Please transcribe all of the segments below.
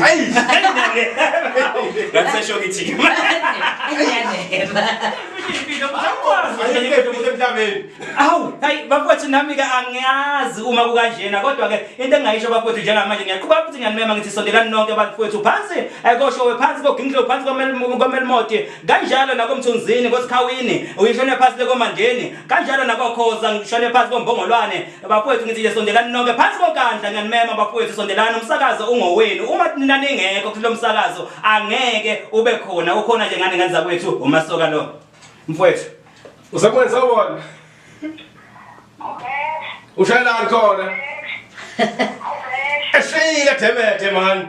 Hayi, ngasesho ngithi awu hayi bafowethu nami-ke angiyazi uma kukanjena kodwa-ke into engingayisho bafowethu njengamanje ngiyaqhuba futhi ngiyanimema ngithi sondelani nonke bafowethu phansi eh, koshowe phansi koginhlo phansi komel- komelmoti kanjalo nakomthunzini kosikhawini uyishone phansi lekomandeni kanjalo nakokhoza ngishone phansi kombongolwane Bafowethu ngithi nje sondelani nonke phansi konkandla ngiyanimema bafowethu sondelani umsakazo ungowenu uma nina ningekho kulo msakazo angeke ube khona ukhona nje ngane ngane zakwethu umasoka lo mfowethu usekwenza wona ushayelani khona eshiyile demede mani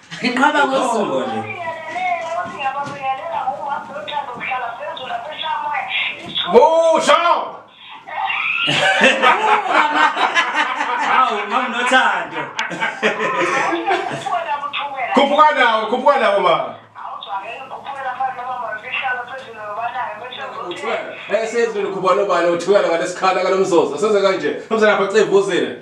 Ngiqhaba ngosuku. Busho! Hawu mama nothando. Khuphuka nawo, khuphuka nawo mama. Uthiwa, esezweni khuphuka nobani, uthukela ngalesikhala kalomzozo. Senze kanje. Mzanapha cevuzile.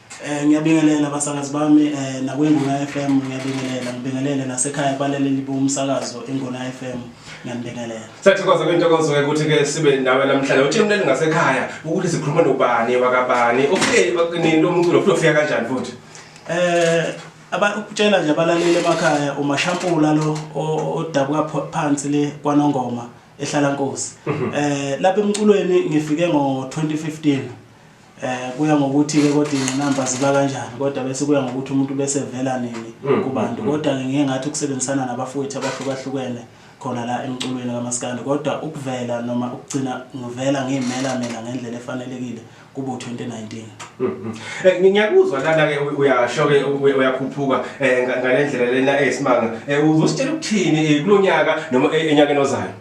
Eh ngiyabingelela abasakazi bami eh nakwinguna FM ngiyabingelela ngibingelele nasekhaya kwalaleli bomsakazo inguna FM ngiyabingelela Sathokoza kwintokozo ukuthi ke sibe nawe namhlanje uthi umlali ngasekhaya ukuthi sikhuluma nobani wakabani ufike nini lo mculo futhi ufika kanjani futhi eh abakutshela nje abalaleli emakhaya umashampula lo o- odabuka pho- phansi le kwanongoma ehlala nkosi eh lapha emculweni ngifike ngo 2015 Eh kuya ngokuthi ke kodwa ingqinamba ziba kanjani kodwa bese kuya ngokuthi umuntu bese vela nini mm, kubantu mm, mm. kodwa ke ngeke ngathi ukusebenzisana nabafowethu abahlukahlukene khona la emculweni kamaskandi kodwa ukuvela noma ukugcina ngivela ngiyimela mina ngendlela efanelekile kubo 2019 eh, ngiyakuzwa lana ke uyasho ke uyakhuphuka eh, ngalendlela lena eyisimanga eh, uzositshela ukuthini kulonyaka noma enyakeni ozayo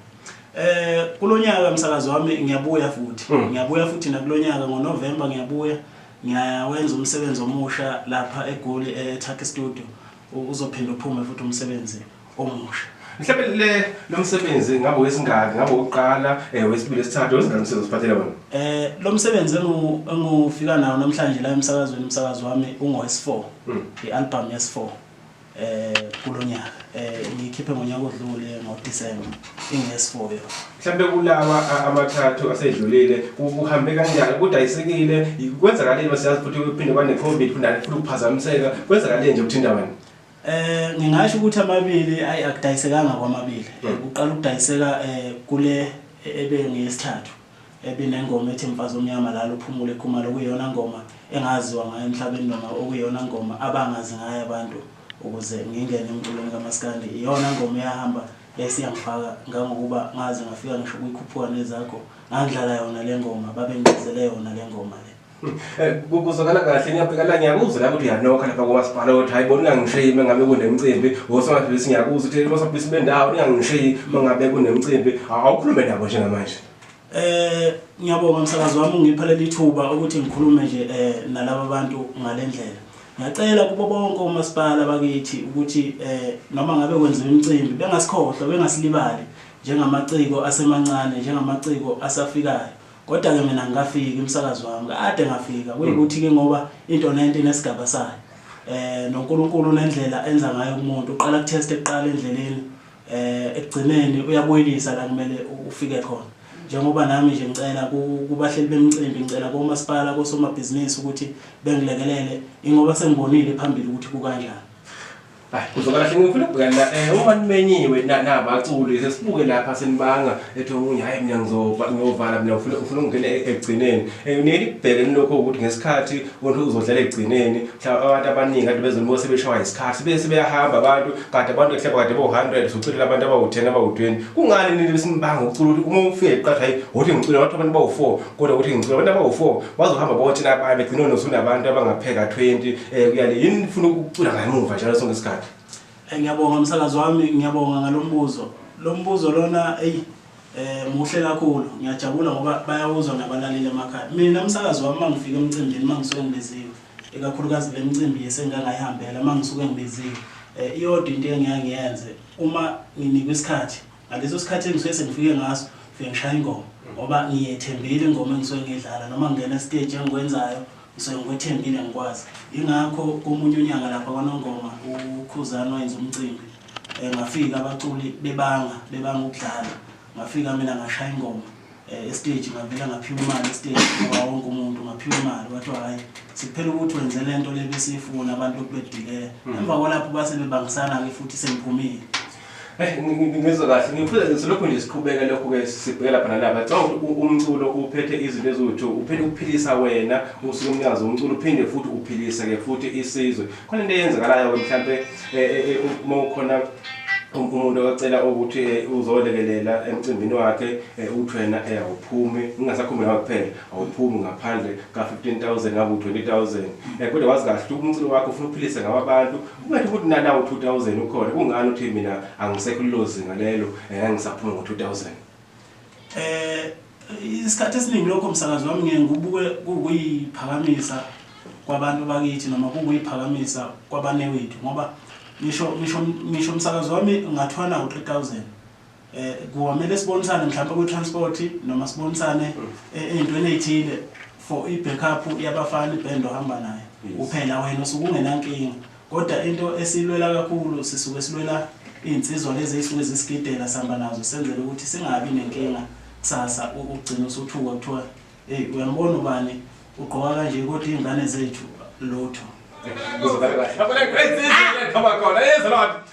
Eh kulonyaka msakazi wami ngiyabuya futhi. Hmm. Ngiyabuya futhi nakulonyaka ngoNovember ngiyabuya. Ngiyawenza umsebenzi omusha lapha eGoli eTurkey eh, Studio. Uzophinda uphume futhi umsebenzi omusha. mhlawumbe le lo msebenzi ngabe wesingaki ngabe wokuqala um wesibili esithathu wesingaki msebenzi osiphathele wona eh lo msebenzi engufika nawo namhlanje la emsakazweni umsakazi wami ungowes-4 hmm. i-album yes-4 eh kulo nyaka eh ngikhiphe ngonyaka odlule ngoDecember ingesifoyo mhlambe kulawa a- amathathu asedlulile ku- kuhambe kanjani kudayisekile kwenzakaleni masiyazi futhi kuphinde kwane-covid kundani futhi kuphazamiseka kwenzakaleni nje kuthinta wena Eh ngingasho ukuthi amabili ayi akudayisekanga kwamabili. Eh, Kuqala ukudayiseka eh kule ebengiyesithathu. ebinengoma ethi Mfazi Omnyama Lala Uphumule Khumalo okuyiyona ngoma engaziwa ngayo emhlabeni noma okuyiyona ngoma abangazi ngayo abantu ukuze ngingene emculweni kamaskandi iyona ngoma eyahamba yayise yangifaka ngangokuba ngaze ngafika ngisho kwikhuphuka nezakho ngangidlala yona lengoma babengicezele yona lengoma le. Eh, kuzwakala kahle ngiyabheka la ngiyakuzwa la ukuthi uyanokha lapha komasipala ukuthi hayi bona ungangishiyi uma ngabe kunemcimbi osomabhizinisi ngiyakuzwa ukuthi osomabhizinisi bendawo ningangishiyi uma ngabe kunemcimbi awukhulume nabo njengamanje eh ngiyabonga msakazi wami ungipha leli thuba ukuthi ngikhulume nje eh nalabo bantu ngalendlela ngiyacela kubo bonke omasipala bakithi ukuthi eh noma ngabe kwenziwa imicimbi bengasikhohlwa bengasilibali njengamaciko asemancane njengamaciko asafikayo Kodwa ke mina ngikafiki umsakazi wami kade ngafika kuyikuthi ke ngoba into nento inesigaba sayo eh noNkulunkulu unendlela enza ngayo umuntu uqala kutest eqala endleleni eh ekugcineni uyabuyelisa la kumele ufike khona njengoba nami nje ngicela kubahleli bemicimbi ngicela komasipala kosomabhizinisi ukuthi bengilekelele ingoba sengibonile phambili ukuthi kukanjani Hayi kuzoba kahle ngifuna ukubhekana la eh uma nimenyiwe na- nabaculi sesibuke lapha senibanga ethi omunye hayi mina ngizova ngiyovala mina ngifuna ngifuna ukungena e- ekugcineni Eh, niye nibheke nilokho ukuthi ngesikhathi umuntu uzodlala ekugcineni mhlawumbe abantu abaningi kade bezonibo sebeshawa isikhathi sibe sebeyahamba abantu kade abantu ehleba kade bo-100 soculela abantu abawu-10 abawu-20 kungani nini besinibanga ukucula ukuthi uma ufike qatha hayi wothi ngicula abantu abantu bawu-4 kodwa ukuthi ngicela abantu abawu-four bazohamba bonke nabaye begcine nosunabantu abangapheka twenty um kuyale yini nifuna ukucula ngamuva njalo sonke isikhathi Eh, ngiyabonga msakazi wami ngiyabonga ngalo mbuzo lo mbuzo lona eyi eh muhle kakhulu ngiyajabula ngoba bayawuzwa nabalaleli emakhaya mina msakazi wami mangifika emcimbini mangisuke ngibiziwe ikakhulukazi le micimbi yesengangayihambela mangisuke ngibiziwe eh iyodwa into engiyangiyenze uma nginikwa isikhathi ngaleso sikhathi engisuke sengifike ngaso ngifike ngishaya ingoma ngoba ngiyethembile ingoma engisuke ngiyidlala noma ngingena esiteji engikwenzayo ngisuke ngikwethembile ngikwazi yingakho komunye unyanga lapha kwanongoma ukhuzana wayenza umcimbi um ngafika abaculi bebanga bebanga ukudlala ngafika mina ngashaya ingoma Eh, estage ngavela ngaphiwa imali estage ngoba wonke umuntu ngaphiwa imali kwathiwa hhayi sekuphela ukuthi wenze le nto le besiyifuna abantu okubedileya hmm. emva kwalapho base bebangisana-ke futhi sengiphumile eh, ngizwe kahle ngifuna silokhu nje siqhubeka lokhu-ke sibheke lapha nalapha cabanga ukuthi umculo uphethe izinto eziwu-two uphinde ukuphilisa wena usuke umnikazi womculo uphinde futhi uphilise-ke futhi isizwe khona into eyenzakalayo-ke mhlawumpe eh, eh, eh, uma ukhona um, umuntu ocela ukuthi uzolekelela emcimbini wakhe ukuthi wena awuphumi ungasakhumbi ngawe kuphela awuphumi ngaphandle ka-fifteen thousand ngabe u-twenty thousand um kodwa wazi kahle ukuthi umculo wakho ufuna uphilise ngawo abantu kungathi ukuthi nanawo u-two thousand ukhona kungani ukuthi mina angisekho lilozinga lelo um angisaphumi ngo-two thousand Eh isikhathi esiningi lokho msakazi wami ngiye ngibuke kuyiphakamisa kwabantu bakithi noma kuyiphakamisa kwabanewethu ngoba ngisho ngisho ngisho umsakazi wami ngathwana u3000 eh kuwamele sibonisane mhlawumbe ku transport noma sibonisane eh, ezintweni ezithile for i backup yabafana iband ohamba nayo kuphela wena usukungenankinga Kodwa into esiyilwela kakhulu sisuke silwela iy'nsizwa lezi ey'suke zisigidela sihamba nazo senzela ukuthi singabi nenkinga kusasa ugcine usuthuka kuthiwa eyi uyambona ubani ugqoka kanje kodwa iy'ngane zethu lutho Ngizobhala kahle. Ngiyabona, great, great, great, come on, come on. Hey, Zalot.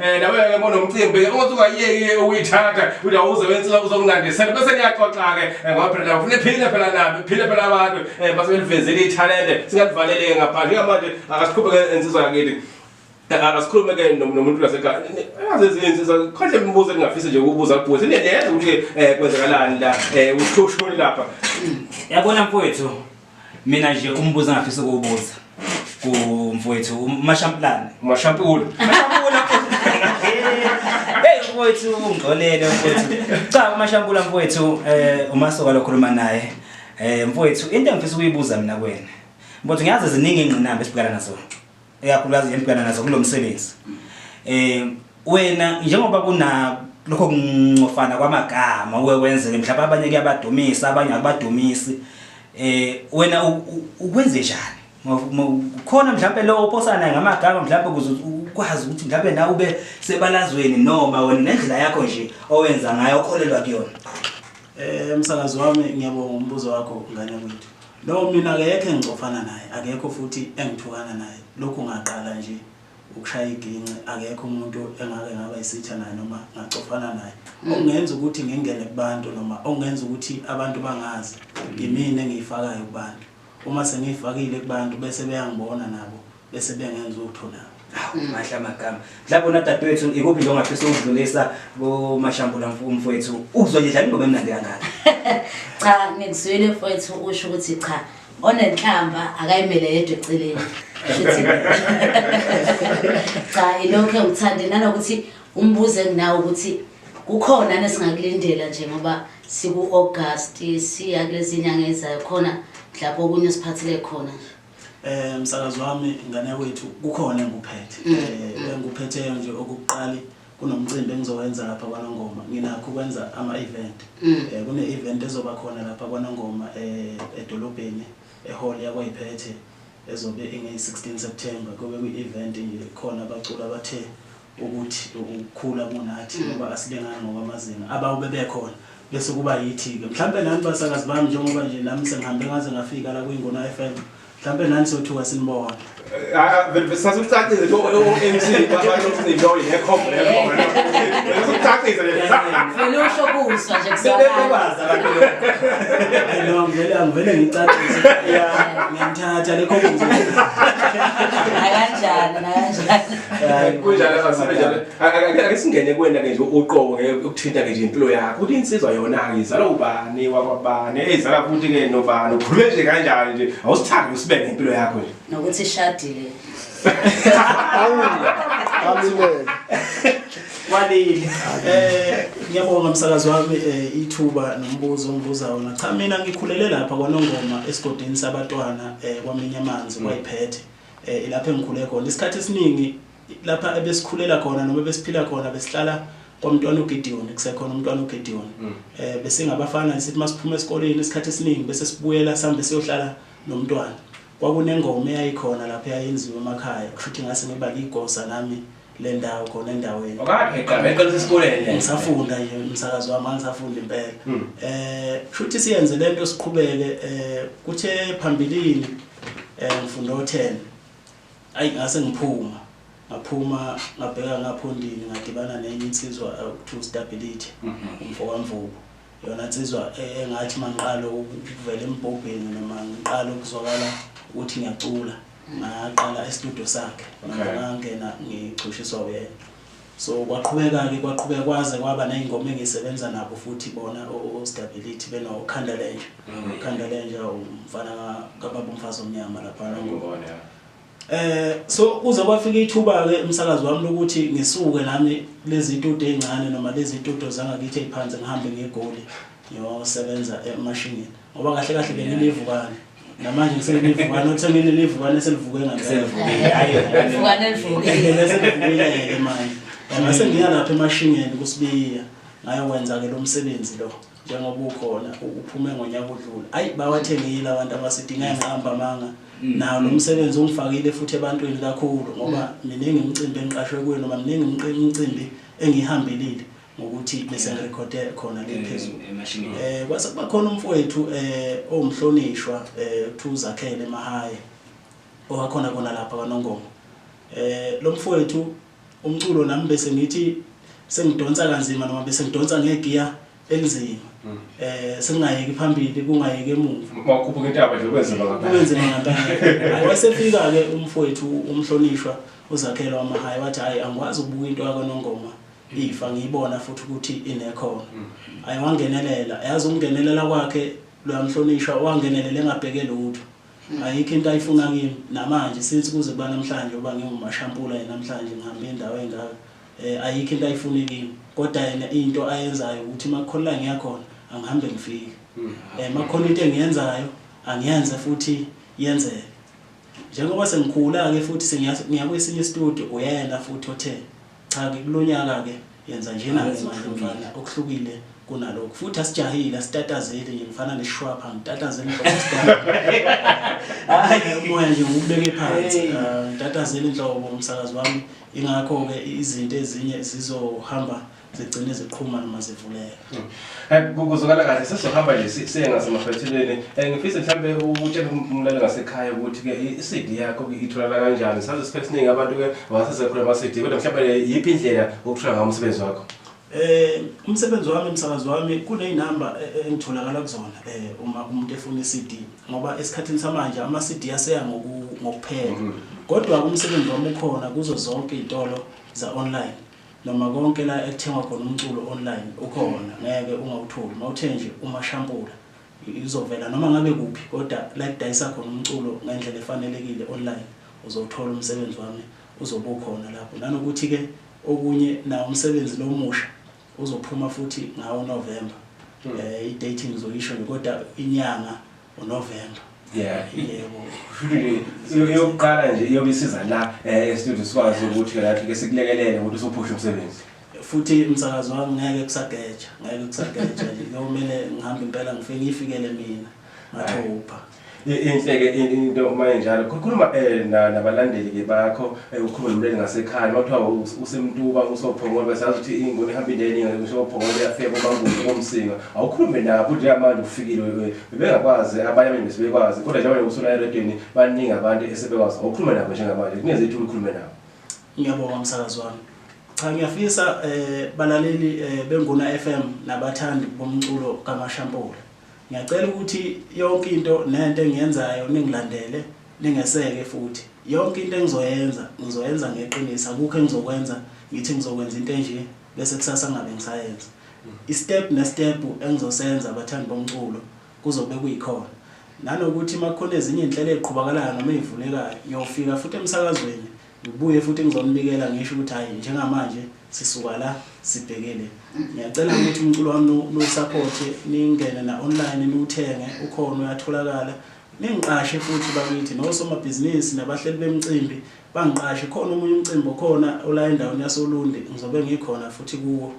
Eh nawe ke bona umcimbi ke ukuthi ungayiyeki ukuyithatha uthi awuze wensiwa uzokunandisela bese niyaxoxa ke eh, ngoba phela ufuna iphile phela nami iphile phela abantu eh, base belivezile ithalente singalivalele ke ngaphandle ngamanje akasiqhubeke ensizwa yakithi asikhulume ke nomuntu lasekhaya yazi izinsiza khonhle imibuzo engingafisa nje ukubuza kubuza sineneza ukuthi um kwenzakalani la um eh, ushushu lapha yabona mfowethu mina nje umbuzo engafisa ukuwubuza kumfowethu umashampulane umashampula umashampula Hey mfowethu ungcolele mfowethu cha umashampula mfowethu eh umasoka lokhuluma naye eh mfowethu into engifisa ukuyibuza mina kuwena mfowethu ngiyazi ziningi ingqinamba esibhekana nazo eyakhulukazi ngibhekana nazo kulo msebenzi eh wena njengoba kuna lokho kuncofana kwamagama uwe wenzeke mhlawumbe abanye kuyabadumisa abanye akubadumisi eh wena ukwenze njani khona mhlawumbe lo ophosana ngamagama mhlawumbe ukuze ukwazi ukuthi mhlawumbe na ube sebalazweni noma wena nendlela yakho nje owenza ngayo okholelwa kuyona eh msakazi wami ngiyabonga umbuzo wakho ngane kwethu No mina akekho engicofana naye akekho futhi engithukana naye lokhu ngaqala nje ukushaya iginci akekho umuntu engake ngaba isitha naye noma ngacofana naye mm. okungenza ukuthi ngingene kubantu noma okungenza ukuthi abantu bangazi yimina engiyifakayo kubantu uma sengiyifakile kubantu bese beyangibona nabo bese bengenza utho na mahle amagama mhlawumbe una dadewethu ikuphi nje ongafisa ukudlulisa kumashambula umfowethu uzwe nje dlala ingoma emnandi kangaka cha ngikuzwile mfowethu usho ukuthi cha onenhlamba akayimele yedwa eceleni cha ilokho engithande nanokuthi umbuzo enginawo ukuthi kukhona nesingakulindela nje ngoba siku-august siya kulezi nyanga ezayo khona mhlawumbe okunye osiphathele khona nje Eh msakazi wami ngane wethu kukhona engikuphethe. Mm, Eh mm. engikuphetheyo nje okuqali kunomcimbi engizowenza lapha kwaNongoma. Nginakho ukwenza ama event. Mm. Eh kune event ezoba khona lapha kwaNongoma eh edolobheni ehall yakwaYiphethe ezobe inge 16 September kube kwi event nje khona abaculi abathe ukuthi ukukhula kunathi ngoba asilingani ngokwamazinga abawu bebekhona bese kuba yithi-ke mhlawumpe nani basakazi bami njengoba nje nami sengihambe ngaze ngafika la kuyingona f m mhlawumpe nani sothuka sinibona sasikucacise nje o-mc babaosintoyi nekhombo lekhombo sasikucacise vele usho kusa nje kusabaza no ngivele angivele ngicacise ngiyamthatha lekhombo nakanjani nakanjani kunjalo abasebenjalo ake singene kwena ke nje uqobo ke ukuthinta ke nje impilo yakho ukuthi insizwa yona ke izala ubani wakwabani ezala futhi ke nobani ukhulume nje kanjani nje awusithandi usibeke impilo yakho nje nokuthi ishadile awubaluleke walile eh ngiyabonga msakazi wami eh, ithuba nombuzo ongibuza wona cha mina ngikhulele lapha kwanongoma esigodini sabatwana eh, kwamenya amanzi kwayiphethe eh, ilapho engikhule khona isikhathi esiningi lapha ebesikhulela khona noma besiphila khona besihlala kwamntwana uGideon kusekhona umntwana uGideon mm. eh bese ngabafana sithi masiphuma esikoleni isikhathi esiningi bese sibuyela sambe siyohlala nomntwana kwakunengoma eyayikhona lapha yayenziwa emakhaya kushuthi ngase ngiba ligosa nami le ndawo khona endaweni Ngaqala esikoleni nje. ngisafunda nje umsakazo wami angisafunda impela Hmm. eh shuthi siyenze lento siqhubeke eh kuthe phambilini eh ngifunda o10 ayi ngase ngiphuma ngaphuma ngabheka ngaphondini ngadibana nenye insizwa eh, to stability umfokamvubu yona nsizwa e- engathi mangiqala ukuvela embhobheni noma ngiqala ukuzwakala ukuthi ngiyacula ngaqala estudio sakhe manje Okay. ngangena ngicushiswa uyena so kwaqhubeka-ke kwaqhubeka kwaze kwaba ney'ngoma engisebenza nabo futhi bona ostability benokhanda lenja khanda lenja umfana ka- kababa umfazi omnyama laphana Ngibone, ya. Eh so kuze kwafika ithuba ke umsakazi wami lokuthi ngisuke nami lezi ntudo ezincane noma lezi ntudo zangakithi eziphansi ngihambe ngegoli ngiyosebenza emashingini ngoba kahle kahle benginivukane namanje ngisenivukane othe nginivukane selivuke ngamsevukile hayi nivukane livukile bese livukile ke manje ngase ngiyalapha emashingeni kusibiya ngayokwenza ke lo msebenzi lo njengoba ukhona uphume ngonyaka odlule ayi bawathengile abantu abasidinga ngiqamba amanga mm. nawo lo msebenzi ungifakile futhi ebantwini kakhulu ngoba mm. miningi imicimbi engiqashwe kuyo noma miningi imicimbi engihambelile ngokuthi bese ngirekhode khona le phezulu eh kwase kuba khona umfowethu eh owumhlonishwa eh kuthiwa uzakhele emahaye owakhona kona lapha kwanongoma eh lo mfowethu umculo nami bese ngithi sengidonsa kanzima noma bese ngidonsa ngegiya elinzima mm. eh singayeki phambili kungayeki emuva makhuphuka intaba nje kwenzima ngempela kwenzima ngempela ayesefika ke umfowethu umhlonishwa uzakhelo wamahayi wathi hayi angikwazi ukubuka into yakho nongoma ifa ngiyibona futhi ukuthi inekhona mm. ayiwangenelela yazi ukungenelela kwakhe loyamhlonishwa wangenelela engabheke lutho Ayikho into ayifuna kimi namanje since kuze kuba namhlanje uba ngingumashampula yena namhlanje ngihambe indawo engaka eh ayikho into ayifuni kimi kodwa yena into ayenzayo ukuthi makukholela ngiyakhona angihambe ngifike hmm. eh makhona into engiyenzayo angiyenze futhi yenzeke njengoba sengikhula ke futhi sengiyakwesinye studio uyena futhi othe Cha-ke kulonyaka-ke yenza njena Hhayi, ngemali okuhlukile. mfana, okuhlukile kunalokhu. Futhi asijahile, asitatazeli nje ngifana nesishwapha, ngitatazela inhloko Hhayi. star. Umoya nje ngiwubeke phansi. Hey. Ah, Ngitatazela inhlobo umsakazi wami. Ingakho-ke izinto ezinye zizohamba zigcine ziqhuma noma zivuleka. kuzokala kahle sesizohamba nje siye ngasemaphethelweni um eh, ngifise mhlawumbe utshele umlali ngasekhaya ukuthi-ke i-cd yakho itholala kanjani saze isikhathi esiningi abantu-ke basesekhula ama-cd kodwa mhlawumbe yiphi indlela okuthola ngawo umsebenzi wakho Eh umsebenzi wami umsakazi wami kunezinamba e, e, engitholakala kuzona eh uma umuntu efuna iCD ngoba esikhathini samanje ama CD aseya ngokuphela mm-hmm. kodwa umsebenzi wami ukhona kuzo zonke izitolo za online Noma konke la ekuthengwa khona umculo online ukhona ngeke ungawutholi mawuthe nje umashampula izovela noma ngabe kuphi kodwa la ekudayisa khona umculo ngendlela efanelekile online uzowuthola umsebenzi wami uzobe ukhona lapho nanokuthi ke okunye nawo umsebenzi lo musha uzophuma futhi ngawo November hmm. eh i date ngizoyisho nje kodwa inyanga uNovember yeah yebo yokuqala nje iyobe isiza la eh studio sikwazi ukuthi ke lapho ke sikulekelele ukuthi usuphushe umsebenzi futhi umsakazo wami ngeke kusageja ngeke kusageja nje kuyomele ngihambe impela ngifike ngifikele mina ngathupha inhleke into uma injalo khuluma eh, nabalandeli ke bakho Eyi ukhulume nomlele ngasekhaya uma kuthiwa u- usemtuba usophongolwe sazi ukuthi ingoni ihamba indeninga ngisho ophongolwe yafika komanguzi komsinga awukhulume nabo njengamanje ufikile wewe bebengakwazi abanye abanye besebekwazi kodwa njengoba usula eredweni baningi abantu esebekwazi awukhulume nabo njengamanje kungenze ithuba ukhulume nabo ngiyabonga msakazi wami cha ngiyafisa eh balaleli eh, benguna FM nabathandi bomculo kaMashampula ngiyacela ukuthi yonke into nento engiyenzayo ningilandele Lingeseke futhi. Yonke into engizoyenza, ngizoyenza ngeqiniso. Akukho engizokwenza ngithi ngizokwenza into enje bese kusasa ngingabe ngisayenza. Isitebhu nesitebhu engizosenza bathandi bomculo kuzobe kuyikhona. Nanokuthi uma kukhona ezinye izinhlelo eziqhubakalayo noma ezivulekayo, ngiyofika futhi emsakazweni ngibuye futhi ngizonibikela ngisho ukuthi hhayi njengamanje sisuka la sibheke le. Ngiyacela ukuthi umculo wami niwusaphothe ningene na-online niwuthenge, ukhona uyatholakala. Ningiqashe futhi bakithi nosomabhizinisi nabahleli bemicimbi bangiqashe khona omunye umcimbi okhona ola endaweni yasoLundi ngizobe ngikhona futhi kuwo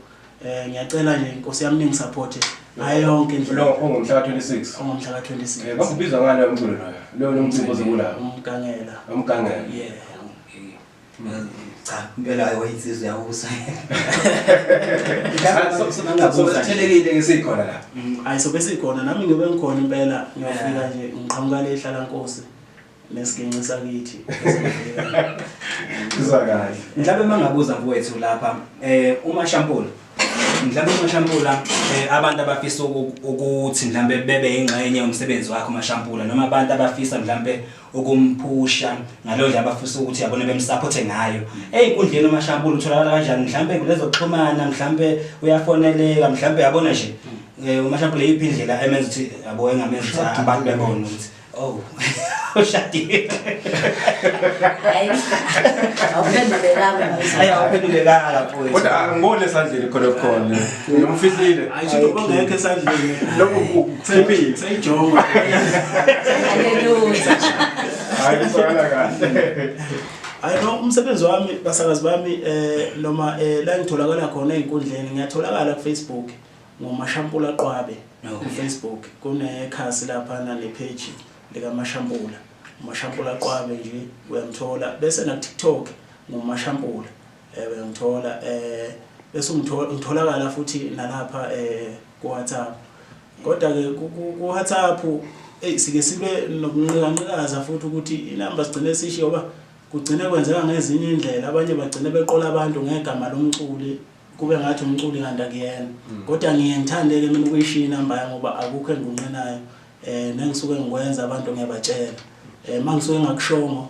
eh ngiyacela nje inkosi yami ningisupporte ngayo yonke indlela lo ongumhla 26 ongumhla 26 eh bakubiza ngani umculo loyo lo nomcimbi ozokulawo umgangela umgangela yeah cha impela ayi wayinsizwa yakusa sithelekile ngesikhona la mm, ayi sobe sikhona nami ngibe ngikhona impela ngiyofika nje ngiqhamuka le hlala nkosi nesiginci sakithi kuzwa kahle mhlawumbe mangabuza kuwethu lapha eh uma shampoo mhlawumbe umashampula eh, abantu abafisa ukuthi mhlawumbe bebe ingxenye yomsebenzi wakho umashampula noma abantu abafisa mhlawumbe ukumphusha ngaleyo ndlela abafisa ukuthi yabona bemsapothe ngayo eyinkundleni umashampula utholakala kanjani mhlawumbe kulezokuxhumana mhlawumbe uyafoneleka mhlawumbe yabona nje eh, umashampula yiphi indlela emenza ukuthi yabo engamenza ukuthi abantu bebone ukuthi oh ushadile hayi awuphendulekanga awuphendulekanga kodwa ngibone sandleni khona khona Ufihlile. Ayisho ukuthi bangekho esandleni. Lokho kuthembile. Sayijonga. Haleluya. Hayi sona kahle. Hayi no umsebenzi wami basakazi bami eh noma eh la ngitholakala khona ezinkundleni ngiyatholakala ku Facebook ngomashampula qwabe ku Facebook kunekhasi lapha na le page lika mashampula umashampula qwabe nje uyamthola bese na TikTok ngomashampula eh uyangithola eh bese ungithola ngitholakala futhi nalapha eh ku WhatsApp kodwa ke ku WhatsApp eh sike sibe nokunqikaza futhi ukuthi inamba sigcine sishiyo ba kugcine kwenzeka ngezinye indlela abanye bagcine beqola abantu ngegama lomculi kube ngathi umculi kanti akuyena mm. kodwa ngiye ngithande ke mina ukuyishiya inamba yami ngoba akukho engunqinayo eh nengisuke ngikwenza abantu ngiyabatshela eh mangisuke ngakushongo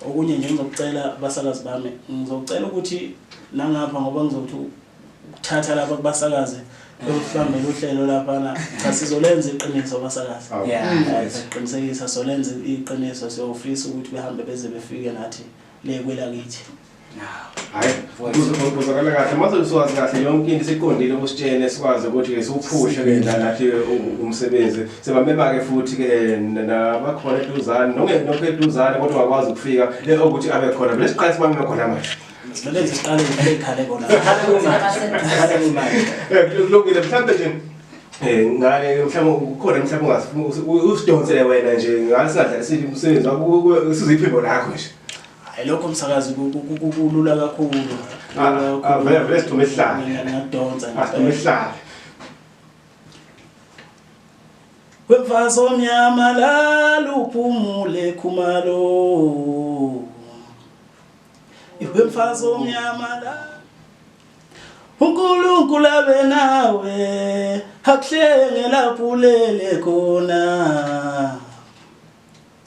Okunye nje ngizokucela basakazi bami ngizokucela ukuthi nangapha ngoba ngizothi ukuthatha lapha kubasakaze lokuhlambela uhlelo laphana cha sizolenza iqiniso basakazi siqinisekisa solenza iqiniso siyofisa ukuthi behambe beze befike nathi le kwelakithi uzokala kahle mase usuwazi kahle yonke into siqondile kusitshene sikwazi ukuthi ke siwuphushe ke nathi umsebenzi sebamema ke futhi ke nabakhona eduzane nongekho eduzane kodwa wakwazi ukufika le ukuthi abe khona vele siqale sibameme khona manje Lezi ziqale ngale khale bona. Khale kumanje. Kulungile mhlambe nje Eh ngale mhlawumbe ukhona mhlawumbe ungasifuna usidonsele wena nje ngasingadlalisile umsebenzi wakho siziphimbo lakho nje. Hayi lokho msakazi kulula kakhulu. Avele vele sithume isihlalo. Ngiyadonsa ngempela. Asithume isihlalo. Wemfazi omnyama lala uphumule khumalo. Wemfazi omnyama lala uNkulunkulu abe nawe akuhlenge lapho ulele khona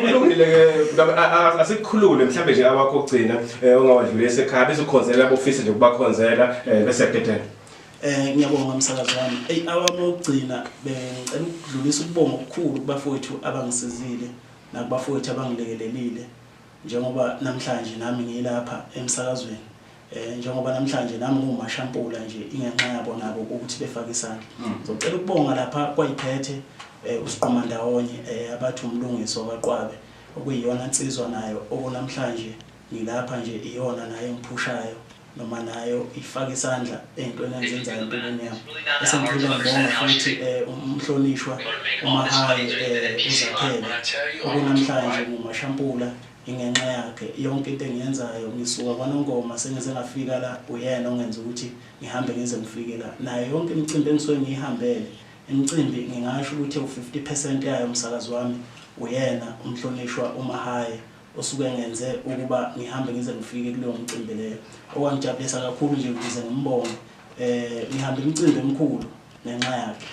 kulungile ke asikhulule mhlambe nje awakho ogcina eh, ongawadlule esekhaya bese ukhonzela abofisi nje ukubakhonzela eh, bese gedela Eh ngiyabonga umsakazi wami. Ey awami ogcina bengicela ukudlulisa ukubonga okukhulu kubafowethu abangisizile nakubafowethu abangilekelelile njengoba namhlanje nami ngilapha emsakazweni. eh njengoba namhlanje nami ngiwumashampula nje ingenxa yabo nabo ukuthi befake isandla mm. ngizocela ukubonga lapha kwayiphethe eh, usiqoma ndawonye eh, abathi umlungiso kaqwabe okuyiyona nsizwa nayo okunamhlanje ngilapha nje iyona nayo engiphushayo noma nayo ifake isandla ey'ntweni enzenzayo empilweni yami esengiphile ngibonga futhi um umhlonishwa umahayi um uzakhele okunamhlanje ngumashampula Ingenxa yakhe yonke into engiyenzayo ngisuka kwaNongoma sengize ngafika la uyena ongenza ukuthi ngihambe ngize ngifike la nayo yonke imicimbi engisuke ngiyihambele imicimbi ngingasho ukuthi ewu-50 percent yayo msakazi wami uyena uMhlonishwa uMahaya osuke engenze ukuba ngihambe ngize ngifike kuleyo mcimbi leyo okwangijabulisa kakhulu nje ukuze ngimbonge eh ngihamba imicimbi emikhulu ngenxa yakhe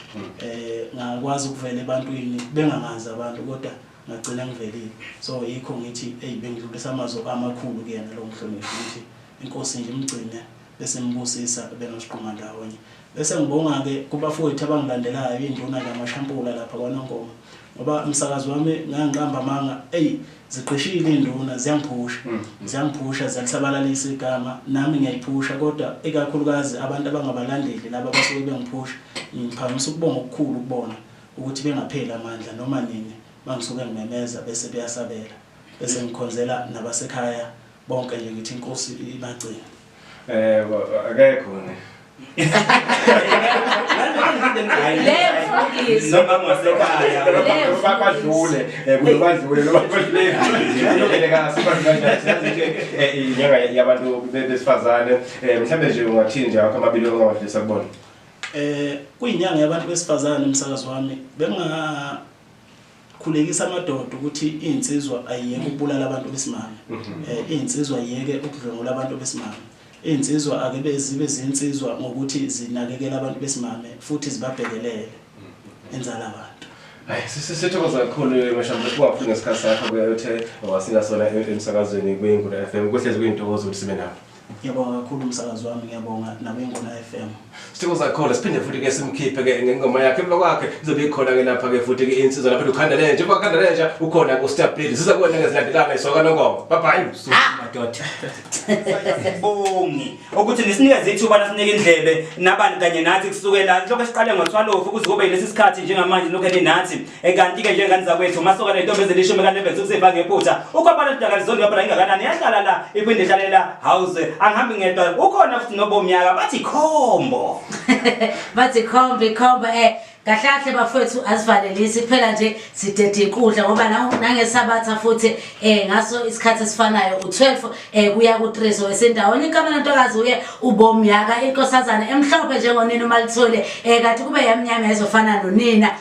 eh ngakwazi ukuvela ebantwini bengangazi abantu kodwa ngagcina ngivelile so yikho ngithi eyi bengidlulisa amazwi amakhulu kuyena lowo mhloniphi ukuthi inkosi nje imgcine bese ngibusisa benosiqhuma ndawonye bese ngibonga-ke kubafowethu abangilandelayo induna kamashampula lapha kwanongoma ngoba umsakazi wami ngangiqamba amanga eyi zigqishile iy'nduna ziyangiphusha mm, mm. ziyangiphusha ziyalisabalalisa igama nami ngiyayiphusha kodwa ikakhulukazi abantu abangabalandeli laba abasuke bengiphusha ngiphakamisa ukubonga okukhulu kubona ukuthi bengapheli amandla noma nini mangisuke ngimemeza bese beyasabela bese ngikhonzela nabasekhaya bonke nje ngithi inkosi ibagcine eh akekho ne bakwadlule kulobadlule lobadlulekasibainyanga yabantu besifazane mhlawumbe nje ungathini nje akho amabili ongawadlisa kubona Eh kuyinyanga yabantu besifazane umsakazo wami benga khulekisa amadoda ukuthi insizwa ayiyeke ukubulala abantu besimame. Mhm. Eh insizwa ayiyeke ukudlwengula abantu besimame. Insizwa ake bezibe zinsizwa ngokuthi zinakekela abantu besimame futhi zibabhekelele mhm. enzala abantu. Hayi sisithokoza kakhulu eh, mashamba sikwaphi ngesikhathi sakho kuyayothe wasinga sona emsakazweni kuyingula FM kuhlezi kuyintokozo ukuthi sibe nawe. Ngiyabonga kakhulu umsakazi wami, ngiyabonga nabeNgona FM. Sithibo zakhona siphinde futhi ke simkhiphe ke ngengoma yakhe emva kwakhe izobe ikhona ke lapha ke futhi ke insizwa lapha ukhanda lenja emva kwakanda lenja ukhona ku Star Blade siza kuwena ngezilandelana isoka nongoma bye bye madoda sibongi ukuthi nisinikeze ithuba nasinike indlebe nabani kanye nathi kusukela lokho esiqale ngothwalofu kuze kube lesi sikhathi njengamanje lokho enenathi Ekanti ke njengani zakwethu masoka nentombi ezilishumi kanebhenzi kusifa ngephutha. Ukwabala lidaka lizondi yabona ingakanani yahlala la iphinde ihlalela house angihambi ngedwa ukhona futhi nobomnyaka bathi khombo. Bathi khombe khombe eh kahlahle bafowethu asivalelisi kuphela nje sidede inkundla ngoba na- nangesabatha futhi eh ngaso isikhathi esifanayo u12 eh kuya ku3 wesendawonye inkamela ntokazi uye ubomyaka inkosazana emhlophe njengonina umalithole eh kanti kube yamnyama ezofana nonina